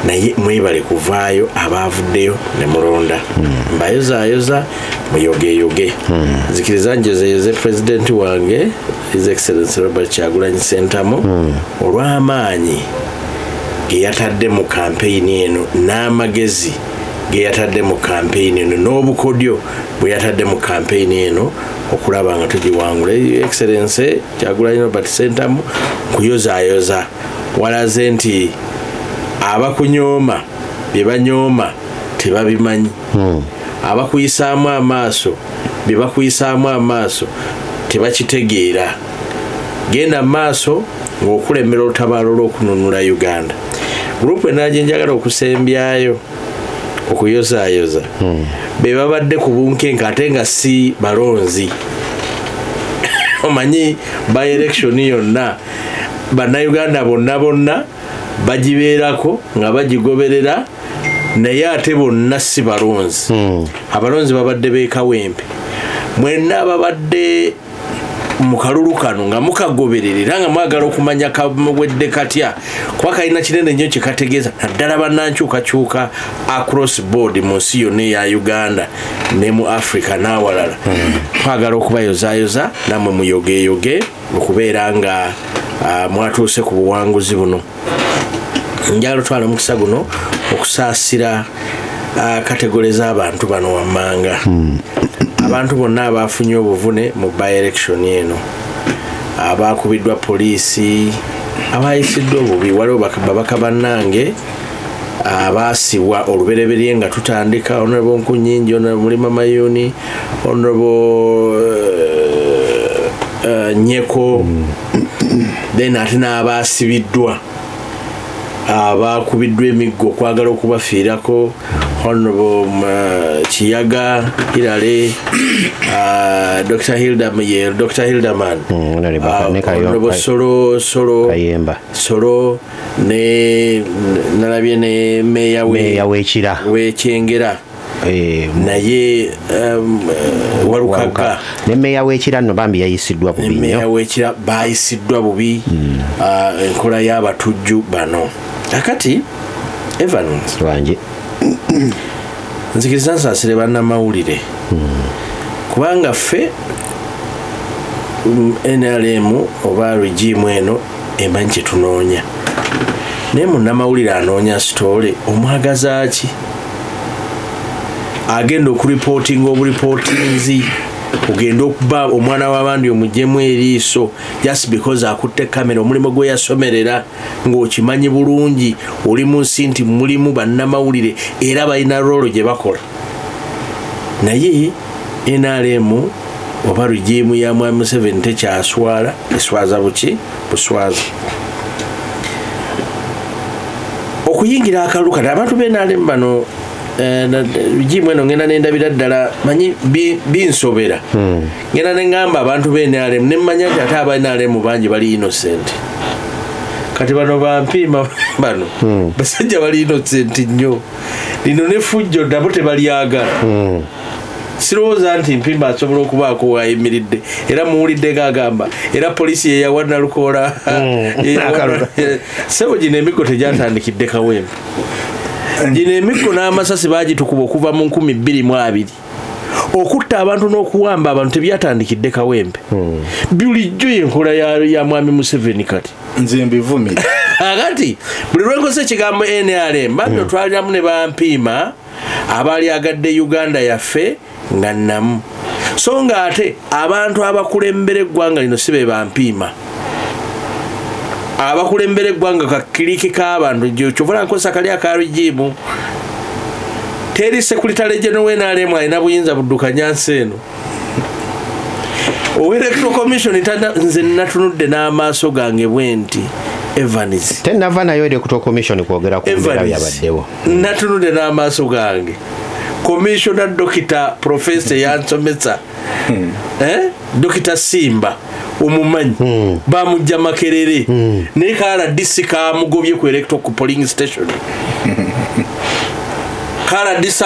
naye mwebale kuvaayo abaavuddeyo ne mulonda hmm. mbayozayoza muyogeyoge hmm. nzikiriza njozeyoze pulezidenti wange his excellency robert kyagulanyi sentamu mm. olw'amaanyi geyatadde mu kampeyini eno n'amagezi geyatadde mu kampeyini eno n'obukodyo bweyatadde mu kampeyini eno okulaba nga tugiwangula excellency kyagulanyi robert sentamu kuyozayoza walaze nti abakunyooma bye banyooma tebabimanyi hmm. abakuyisaamu amaaso bye bakuyisaamu amaaso tebakitegeera genda maaso ng'okulemera olutabaalo lw'okununula uganda gurupu enala gye njagala okusembyayo okuyozaayoza hmm. be babadde ku bunkenke ate nga si balonzi omanyi by election yonna bannayuganda bonna bonna bagibeerako nga bagigoberera naye ate bonna si balonzi hmm. abalonzi babadde bekawempe mwenna ababadde mu kalulu kano nga mukagoberera era nga mwagala okumanya kamuwedde katya kuba kalina kinene nnyo kyekategeeza naddala banankyukakyuka across board mu nsi yonna eya uganda ne mu africa n'awalala hmm. twagala okubayozayoza namwe muyogeyoge mu kubeera nga ah, mwatuuse ku buwanguzi buno njagala otwala omukisa guno okusaasira ah, kategole z'abantu bano wammanga hmm. abantu bonna abaafunye obuvune mu by-election eno abaakubiddwa poliisi abayisiddwa obubi waliwo babaka bannange abaasibwa olubereberye nga tutandika honorable nkunyingi honorable mulima mayuni honorable eh, eh, nyeko then ate n'abaasibiddwa abaakubiddwa emiggo okwagala okubafiirako honorable eh, kiyaga hirale ah, dr hildaman mm, ah, solo solo ne nalabye ne meya we wekira wekyengera eh, naye um, walukaga ne meya wekira no bambi yayisiddwa bubi ne meya wekira bayisiddwa bubi hmm. ah, enkola mm. uh, y'abatujju bano akati evans wange nzikiriza nsasire bannamawulire mm. kubanga ffe mm, nrm oba regimu eno emanyi kyetunoonya naye munnamawulire anoonya sitoole omwagazaaki agenda okuripootinga oburipootinzi ogenda okuba omwana w'abandi omujemu eriiso just because akutte kamera omulimu gwe yasomerera ng'okimanyi bulungi oli mu nsi nti mulimu bannamawulire era balina roolo gye bakola naye nrm oba regimu ya mwami museveni tekyaswala eswaza buki buswaza okuyingira akalulu kati abantu benrm bano eh, regimu eno ngenda nendabira ddala manyi binsobera hmm. ngenda nengamba abantu benrm nemanya nti ate aba nrm bangi bali innocent kati bano bampiima bano hmm. basajja bali innocent nnyo lino ne fujjo nabo tebalyagala hmm. sirowooza nti mpimba asobola okubaako wayimiridde era muwulidde nga agamba era poliisi yeyawa nalukoola hmm. sebo gino emiggo tegyatandikidde kawembe gino emiggo n'amasasi bagitukuba okuva mu nkumi bbiri mu abiri okutta abantu n'okuwamba abantu tebyatandikidde kawembe hmm. bulijjo yenkola ya mwami museveni kati nze mbivumira akati buli lwenkosa ekigambo nrm bambi hmm. otwaliramu ne bampiima abaali agadde uganda yaffe nga namu so nga ate abantu abakulembera eggwanga lino si be bampiima abakulembera eggwanga kakiriki k'abantu kyovola nkosa kali akarigiimu teri sekulitale gye nowenalemu alina buyinza buddukanya nsi eno owelectoral commission nze natunudde n'amaaso gange bwe nti evans tenava nayo electoral commission kwogera kubyabaddewo natunudde n'amaaso gange commissiona dokita profesa yansomesa hmm. eh? dokita simba omumanyi hmm. bamujja makerere hmm. naye kala disi kamugobye ku electo ku poling station kala disi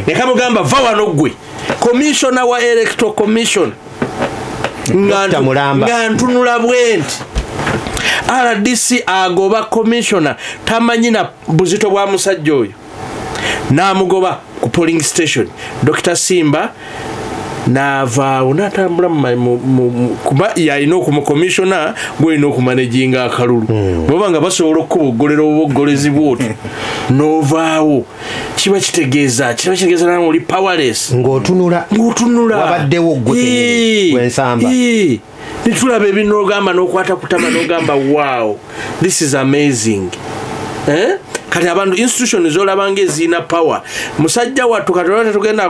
nekamugamba va wano gwe commissiona wa electo commission nga ntunula bwenti rdc agoba commissiona tamanyi na buzito bwa musajja oyo n'amugoba ku polling station dr simba naavaawo natambula kuba yalina okumukomisiona gwolina okumanejinga akalulu hmm. bwaba nga basobola okukuboggolera obuboggolezi bwoti novaawo kiba kitegeeza kiba kitegeeza nawe oli powerless ngaotunula ngaotunula wabaddewo gwe ensamba nitulaba ebinogamba nokwata kutama nogamba wow this is amazing eh? kati abantu institution zolabanga eziina power musajja wattu kati olwate tugenda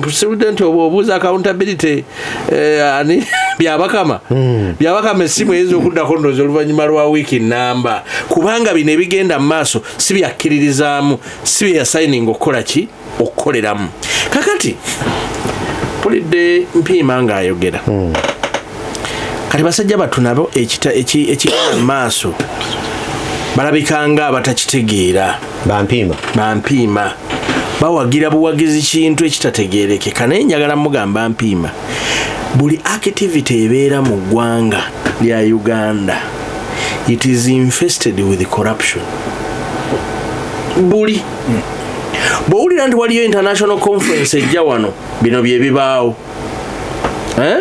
president obwo obuuza accountability eh, ani byabakama hmm. byabakama essimu eyinza okuddako ndozi oluvannyuma lwa wiiki namba kubanga bino ebigenda mu maaso si byakkiririzaamu si byeyasayininga okukola ki okukoleramu kakati mpulidde mpiima ng'ayogera hmm. kati basajja battu nabo ekigenda mu maaso balabikanga abatakitegeera bampiima bampiima bawagira buwagizi kintu ekitategeerekeka naye njagala mugamba mpiima buli activity ebeera mu ggwanga lya uganda it is infested with corruption buli bwowulira nti waliyo international conference ejja wano bino byebibaawo eh?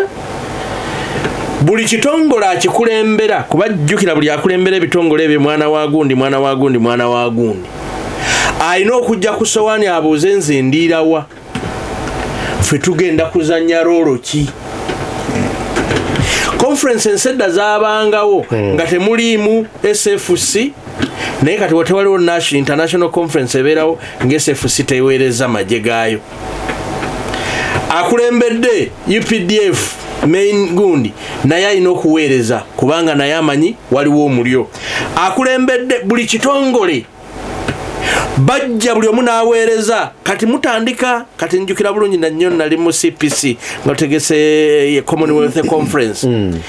buli kitongole akikulembera kuba jjukira buli akulembera ebitongole ebyo mwana wa gundi mwana wa gundi mwana wa gundi alina okujja ku sowaani abuuze nze ndiirawa ffe tugenda kuzanya roolo ki conference ensedda zabangawo hmm. nga temuliimu sfc naye kati watewaliwo nash international conference ebeerawo nga sfc teweereza magye gaayo akulembedde updf main gundi naye alina okuweereza kubanga naye amanyi waliwo omulyo akulembedde buli kitongole bajja buli omu n'aweereza kati mutandika kati njukira bulungi nannyo nali mu cpc nga tutegese eh, commonwealth mm. conference mm.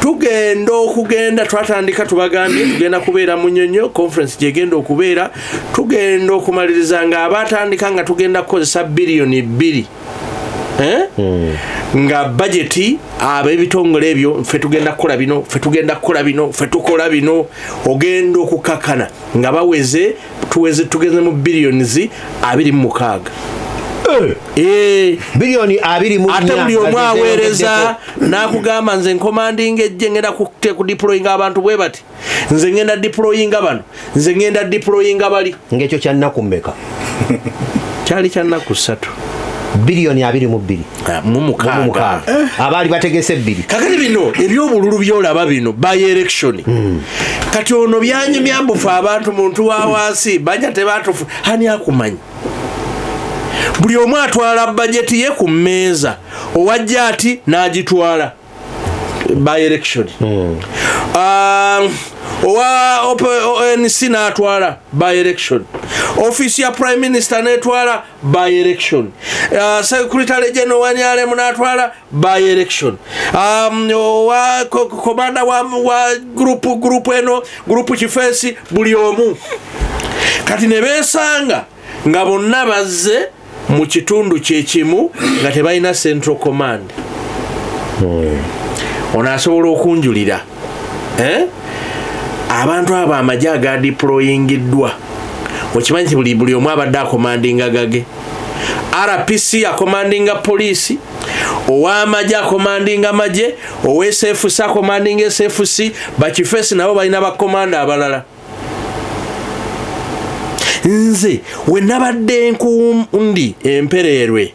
tugenda okugenda twatandika tubagambye tugenda kubeera mu nyonyo conference gyegenda okubeera tugenda okumaliriza nga abatandika nga tugenda kukozesa biliyoni bbiri Eh? Hmm. nga bajeti abebitongole ebyo fe tugenda kukola bino fe tugenda kukola bino fe tukola bino ogenda okukakana nga baweze tuweze tugeze mu billions abiri mu mukaaga eh. Eh. billioni abiri mu ate buli omu aweereza n'akugamba nze nkomandinga ejje ngenda kudeployinga abantu bwe bati nze ngenda diployinga bano nze ngenda diployinga bali ngekyo kyannaku mmeka kyali kyannaku ssatu biliyoni abiri mu bbiri ah, mumukaaga eh. abaali bategese ebbiri kakati bino ebyobululu byolaba bino by election hmm. kati ono byanyumya mbufe abantu muntu wa wansi banja tebatufu ani akumanyi buli omu atwala bajeti ye ku mmeeza owajja ati n'agitwala by election mm. um, owa onc natwala by election office ya prime minister netwala by election uh, secretary general wanyalemu natwala by election um, owa komanda wa, wa group group eno group kifesi buli omu kati nebesanga nga bonna bazze mu kitundu kyekimu nga tebalina central command hmm. ono asobola okunjulira eh? abantu abo amagye agadiployingiddwa okimanyi nti buli buli omu abadde akomandinga gage rpc akomandinga poliisi owamagye akomandinga magye owsfc akomandinga sfc bakifesi nabo balina bakomanda abalala nze we nabadde nkundi empereerwe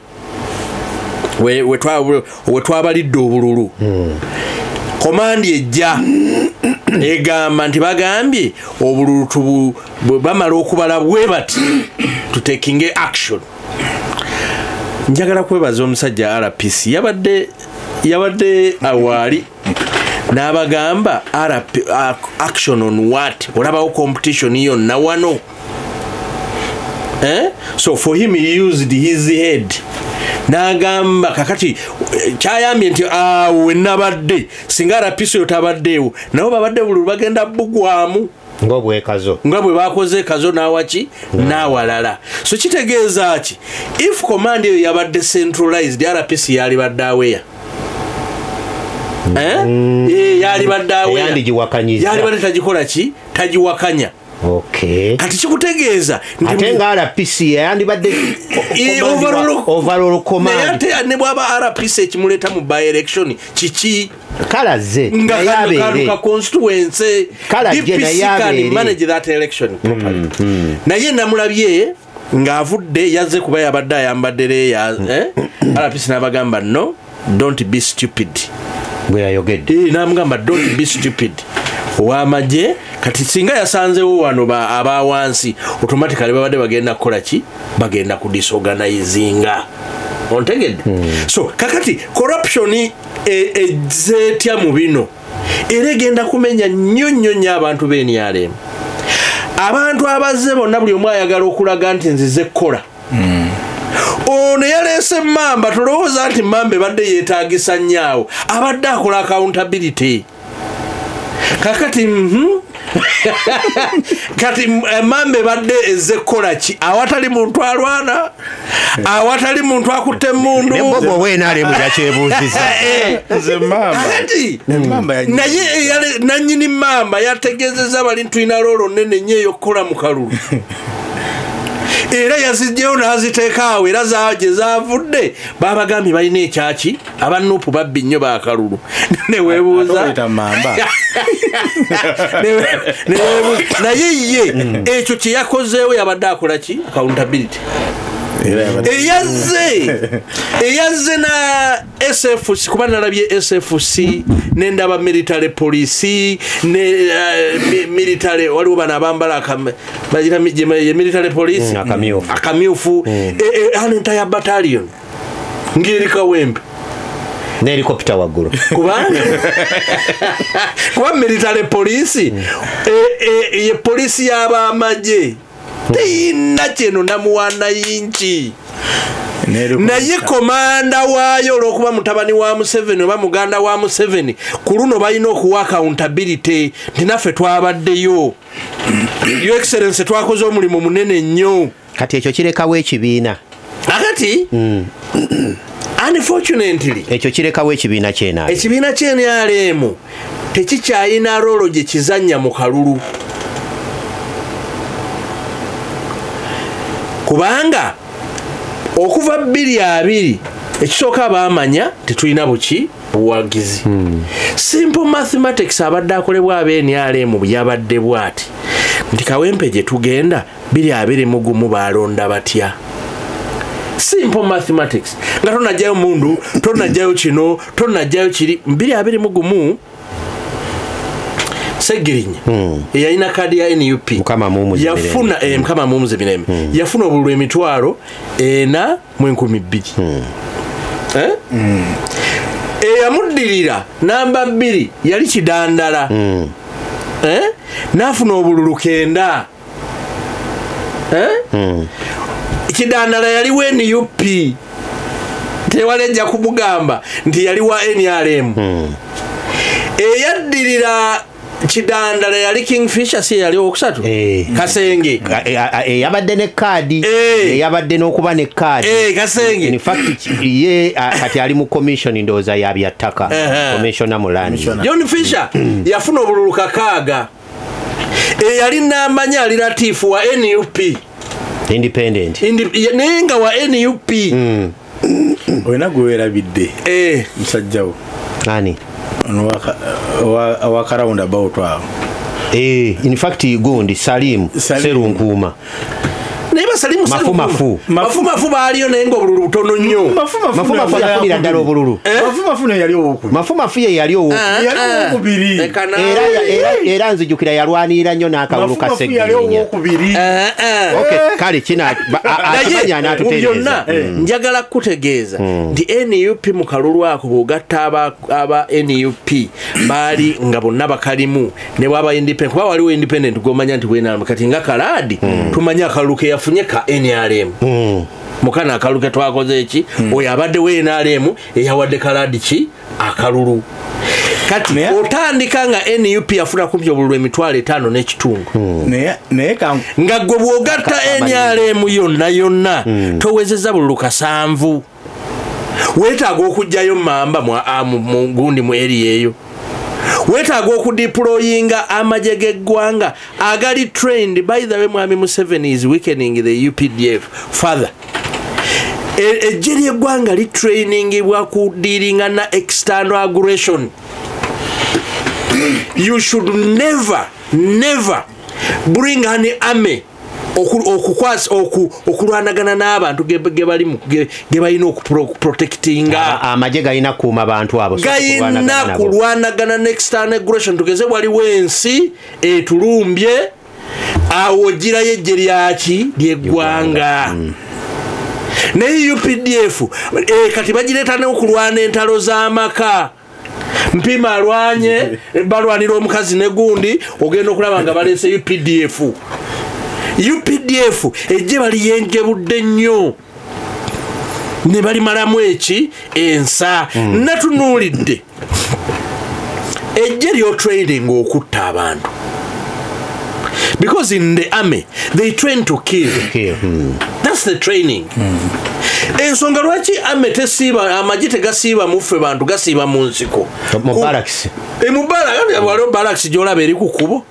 we twabalidde obululu hmm. komandi ejja egamba nti bagambye obululu tubu bamala okubala bwe bati tutekinge action njagala kwebaza omusajja rpc yabadde yabadde awaali n'abagamba action on what olabawo competition yonna wano eh? so for him he used his head n'agamba kakati eh, kyayambye nti awo ah, wenabadde singa arapiso yo tabaddeewo nabo babadde buli lubagenda bugwamu ngobwekazo nga bwe bakoze ekazo nawaki mm. nawalala so kitegeeza ki if command eyo yabadde centralized rpc yalibadde aweya mm. eh? mm. eh, yalibadde aweyayalibadde tagikola ki tagiwakanya kati kikutegeeza ate nga rpc yayandibadde overall command ne bwaba rpc ekimuleeta mu by election kiki kale azze naye abeere kale ajje naye abeere mm, mm. naye namulabye ng'avudde yazze kuba yabadde ayambadde leeya eh? rps n'abagamba no don't be stupid bwe yayogedde eh, namugamba don't be stupid owamagye kati singa yasanzewo wano aba wansi automatically babadde bagenda kukola ki bagenda kudisorganizinga ontegedde hmm. so kakati corruption ezze e, etya mu bino era egenda kumenya nnyo nnyo nnyo abantu b'enrm abantu abazze bonna buli omu ayagala okulaga nti nzize kukola hmm. ono yaleese mamba tolowooza nti mamba ebadde yeetagisa nnyo awo abadde akola accountability kakati mhm. kati eh, mamba ebadde ezze kukola ki awatali muntu alwana awatali muntu akutte emundunananyini mamba yategezeza bali ntulina loolo nene nyo eyokukola mu kalulu era yazijjeyo n'aziteekaawo era gye zavudde babagambye balina ekyaki aba nupu babbi nnyo bakalulu newebuuza naye ye hmm. ekyo kyeyakozeewo yabadde akola ki accountability eyazze eyazze na sfc kuba nalabye sfc nendaba military police ne eh, military waliwo bano abambala military police hmm, akamyufu hmm. eh, eh, an entire battalion ngeri kawempe nelikopita waggulu kubanga kuba military poliisi mm. e, e, ye poliisi y'abamagye mm. teyina kyeno namuwana yinki naye komanda waayo olwokuba mutabani wa museveni oba muganda wa museveni ku luno balina okuwa accountability nti naffe twabaddeyo yo excellence twakoze omulimu munene nnyo kati ekyo kirekawo ekibiina akati mm. unfortunately ekyo kirekawo ekibiina kyena ekibiina kyenrm tekikyayina rolo gye kizanya mu kalulu kubanga okuva bbiri abiri ekisooka baamanya tetulina buki buwagizi hmm. simple mathematics abadde akolebwa abenrm yabadde bwati nti kawempe gye tugenda biri abiri mu gumu baalonda batya simple mathematics nga tonajjayo mundu tonajjayo kino tonajjayo kiri biri abiri mu gumu segirinya hmm. eyalina kaadi ya nup yafuna eh, hmm. mukama mumuze mirembe hmm. yafuna obululu emitwalo ena mu enkumi bbiri eh? eyamuddirira namba bbiri yali kidandala eh? nafuna obululu kenda eh? hmm. kidandala yali wa nup tewali ajja kumugamba nti yali wa nrm hmm. eyaddirira kidandala yali king fisher si yali owokusatu eh. kasenge eyabadde eh, eh, ne kaadi eyabadde n'okuba ne kaadi kasenge infact ye kati ali mu commission ndowooza yabyattaka commissiona mu landi john fisher yafuna obululu kakaaga eyali namanya ali latifu wa nup independent naye nga wa nup hmm. olina gwewerabidde eh. musajjawo ani wakarawund about awo eh, infact gundi salimu serunkuuma naye basali musalifu. Mafu, mafu. mafu baaliyo naye nga obululu butono nnyo Mafu, mafu, mafu, mafu, mafu, yafunira ddala obululu Eh? mafu mafu naye yali owokubiri mafu mafu ye yali owo Ah, yali ah. owokubiri. Leka naawe. era ya- era- era nzijukira yalwanirira nnyo n'akalulu ka mafu mafu yali segirinya owokubiri Eh, eh. Okay, kale kina ba- a- a- kimanya naye mu anatutereeza. byonna Mm. njagala kukutegeeza nti nup mu kalulu ako bw'ogatta aba- aba nup baali nga bonna bakalimu ne bwaba independent kuba waliwo independent gwomanya nti bwenalm kati nga kalaadi mm. tumanye akalulu ke yafunye ka nrm mm. mukana akalulu ke twakoze eki mm. oyo abadde we nrm eyawadde kalaadi ki akalulu kati Mea? otandika nga nup yafuna kumpi obululu emitwalo etaano n'ekitundu hmm. nga gwe bwogatta nrm yonna yonna hmm. towezeza bululu kasanvu weetaaga okugjayo mamba ah, mugundi mu eri eyo weetaaga okudipuloyinga amagye g'eggwanga agali trained by the way mwami museveni is weakening the updf father e, ejje ly'eggwanga litrainingibwa ku dealinga na external aggression you should never never bring an army okukwasa okulwanagana n'abantu gebalimu gebalina okuprotectinga amagye galina kuuma bantu abo galina kulwanagana nextern aggression tugeze waliwo ensi etulumbye awo girayo ejje lyaki lyeggwanga mm. naye updf eh, kati bagireeta neokulwana entalo z'amaka mpima alwanye balwanira omukazi negundi ogenda okulaba nga baleeseyo pdf updf ejje baliyenjebudde nnyo ne balimalamu eki ensa mm. natunuulidde ejje lyotraining okutta abantu because in the army they train to kill hmm. that's the training hmm. ensonga lwaki ame tesiiba amagye tegasiiba muffe bantu gasiiba mu nsiko mubalakisi emubalawaliwo balakisi gyolaba eri ku kubo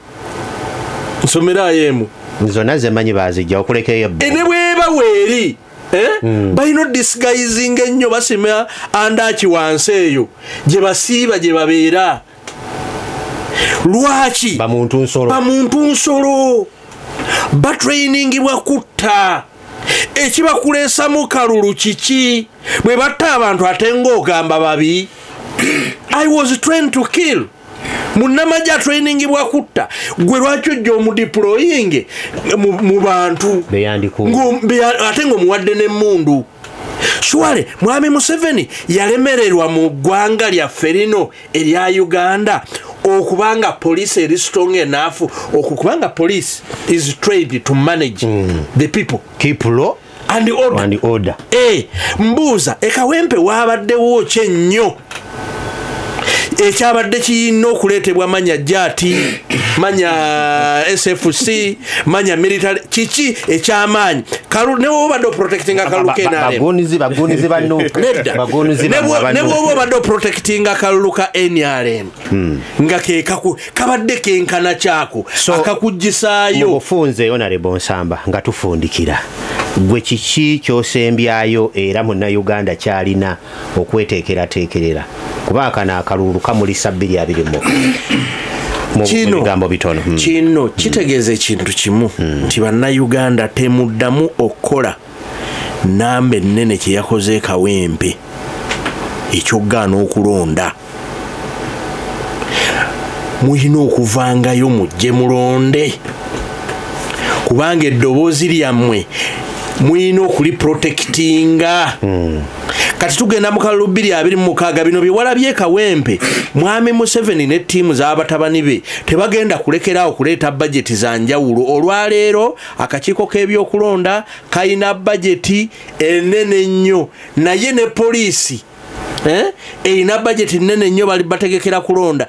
nsomerayo emu zonna zemanyi bazijja okulekeyo eh, ne bweba weeri eh? hmm. balina odisguizinga ennyo basima andaki wansi eyo gye basiiba gye babeera lwaki bamuntu nsolo bamuntu nsolo batrainingibwa kutta ekibakuleesamu kalulu kiki bwe batta abantu ate ngaogamba babi i was train to kill munamaje atrainingibwa kutta gwe lwaki ojja omudiployinge mu bantu ate ngaomuwadde nemundu shuwale mwami museveni yalemererwa mu ggwanga lyaffe lino erya uganda okubanga police eri strong enough okukubanga police is trained to manage mm. the people keep law and order, and order. Hey, eh, mbuuza ekawempe waabaddewo kye nnyo ekyabadde kiyina okuleetebwa manya jati manya sfc manya military kiki ekyamaanyi newoba obadde oprotectinga kalulu knrmnebwoba obadde oprotectinga kalulu ka nrm hmm. nga kekaku kabadde kenkana kyako akakugisaayo nga tufundikira gwe kiki kyosembyayo era munauganda kyalina okweteekerateekerera kuba akano akalulu kamulisa bbiri abiri mu mubigambo bitono hmm. kino hmm. kitegeeza ekintu kimu hmm. nti bannayuganda temuddamu okukola namba ennene kyeyakoze kawempe ekyokugaana okulonda mulina okuvangayo mujje mulonde kubanga eddoboozi lyammwe mulina okuliprotekitinga hmm. kati tugenda mu kalulu bbiri abiri mu mukaaga bino biwala byekawempe mwami museveni ne ttiimu z'abatabani be tebagenda kulekeraawo kuleeta bajeti za njawulo olwaleero akakiiko k'ebyokulonda kalina bajeti enene nnyo naye ne poliisi Eh? erina bajeti nene nnyo bali bategekera kulonda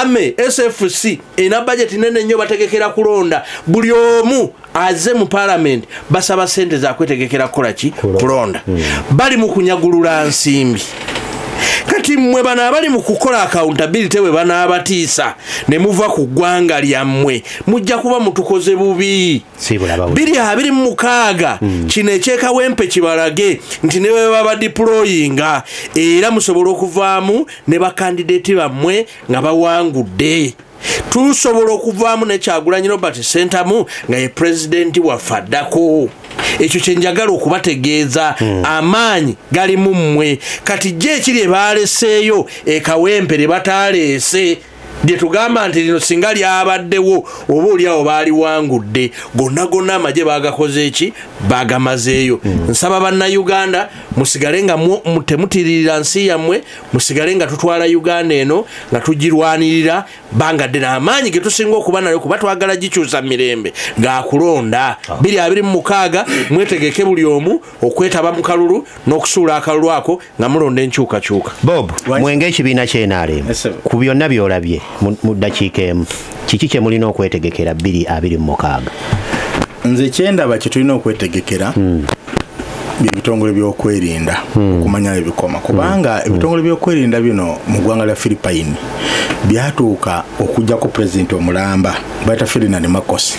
ame sfc erina bajeti nene nnyo bategekera kulonda buli omu aze mu palamenti basaba sente zakwetegekera kukola ki kulonda hmm. bali mu kunyagulula nsimbi kati mmwe bano abali mu kukola akawuntabilite bwe banaabatiisa ne muva ku ggwanga lyammwe mujja kuba mutukoze bubi biri abiri mu mukaaga hmm. kino ekyekawempe kibalage nti ne bwe baba diployinga era musobola okuvaamu ne bakandideeti bammwe nga bawangudde tusobola okuvaamu nekyagulanyi robert sentamu nga ye pulezidenti waffe addako ekyo kyenjagala okubategeeza hmm. amaanyi galimu mmwe kati gye ekiri ebaleseeyo ekawempe lye bataaleese lyetugamba nti lino singa lyabaddewo oba oliawo baaliwangudde gonna gonna amagye bagakoze eki bagamazeeyo hmm. nsaba bannauganda musigale nga temutiririra nsi yammwe musigale nga tutwala uganda eno nga tugirwanirira banga ddene amaanyi getusinga okuba nayo kuba twagala gikyusa mirembe gakulonda 226 ah. mwetegeke buli omu okwetaba mu kalulu n'okusuula akalulu ako nga mulonda enkyukakyuka bob mwenge ekibiina kyenaalemu ku byonna byolabye mu ddakiika emu kiki kye mulina okwetegekera bbiri abiri mu mukaaga nze kyendaba kye tulina okwetegekera hmm. byebitongole byokwerinda hmm. okumanya ebikoma hmm. kubanga hmm. ebitongole byokwerinda bino mu ggwanga lya philippine byatuuka okujjako pulezidenti omulamba bayita ferdinand makosi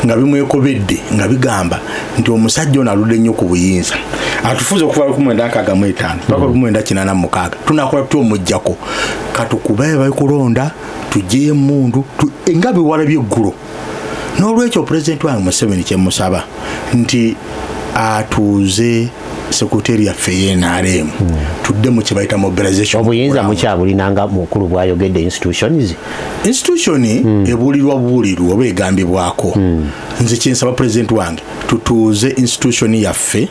nga bimwekobedde nga bigamba nti omusajja ono aludde nnyo ku buyinza atufuza okuva lukumwenda nkaaga mu etaano paka hmm. lukumwenda kinana mu mukaaga tunakola tutya omujjako katukubaye bali kulonda tugyeyo emundu nga biwala byeggulo n'olwekyo pulezidenti wange museveni kyemusaba nti atuuze sekuteri yaffe yenrm hmm. tudde mu kyebayita mobilizationobuyinza mukyabulina nga mukulu bwayogedde institutions institution hmm. ebulirwa buwulirwa oba egambibwako hmm. nze kyensaba president wange tutuuze institution yaffe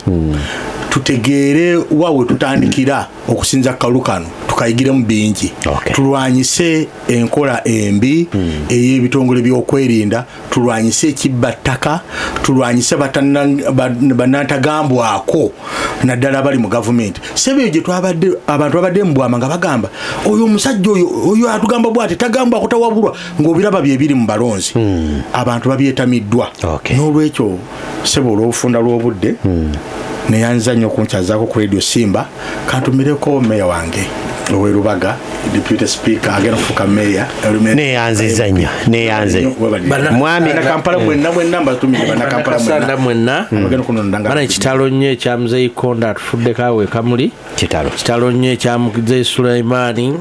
tutegeere wa we tutandikira okusinza kalu kano tukayigiremu bingi tulwanyise enkola embi ey'ebitongole by'okwerinda tulwanyise ekibba ttaka tulwanyise banantagambwako naddala abali mu gavumenti sebe eyo gyetwabadde abantu babadde mubwama nga bagamba oyo omusajja oyo oyo atugamba bw ati tagambwa kutawabulwa ngaobiraba byebiri mu balonzi hmm. abantu babyetamiddwa n'olwekyo sebo olwobufunda lwobudde hmm. neyanza nnyo okunkyazako ku radio simba kantumireko meya wange owerubaga deputy speaker agenda kufuka meya neyanziza nnyo neyanze mwami kampala mwenna mwenna mbatumire banakampala mwenna mwenna hmm. ekitalo nnyo ekyamuzeyikonda atufudde kawe kamuli kitalo kitalo nnyo ekyamuze sulaimaani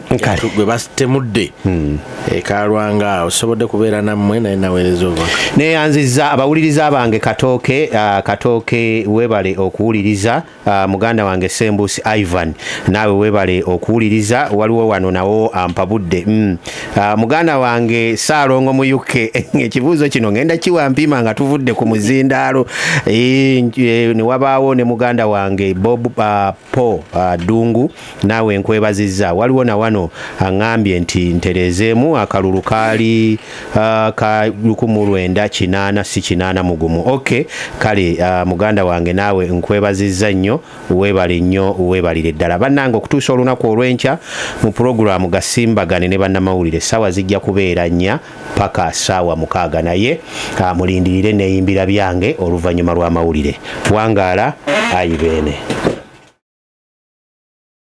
gwe basitemudde hmm. ekalwanga awo sobodde kubeera nammwe naye naweereza oba neyanziza abawuliriza bange katooke uh, katooke webale okuwuliriza uh, muganda wange sembusi ivan naawe webale okuwuliriza waliwo wano nawo ampabudde mm. Ah, muganda wange saalongo mu uk ekibuuzo kino ngenda kiwa mpima nga tuvudde ku muzindaalo eh, eh, newabaawo ne muganda wange bob ah, po ah, dungu naawe nkwebaziza waliwo na wano aŋambye nti ntereezeemu akalulu kaali ka lukumu lwenda kinaana si kinaana mugumu ok kale muganda wange naawe nkwebaziza nnyo webale nnyo webalire ddala bannange okutuusa olunaku olw'enkya mu pulogulaamu gasimbagane ne bannamawulire saawa zijja kubeera nnya paka saawa mukaaga naye ah, mulindirire neeyimbira byange oluvannyuma lw'amawulire wangaala ayi beene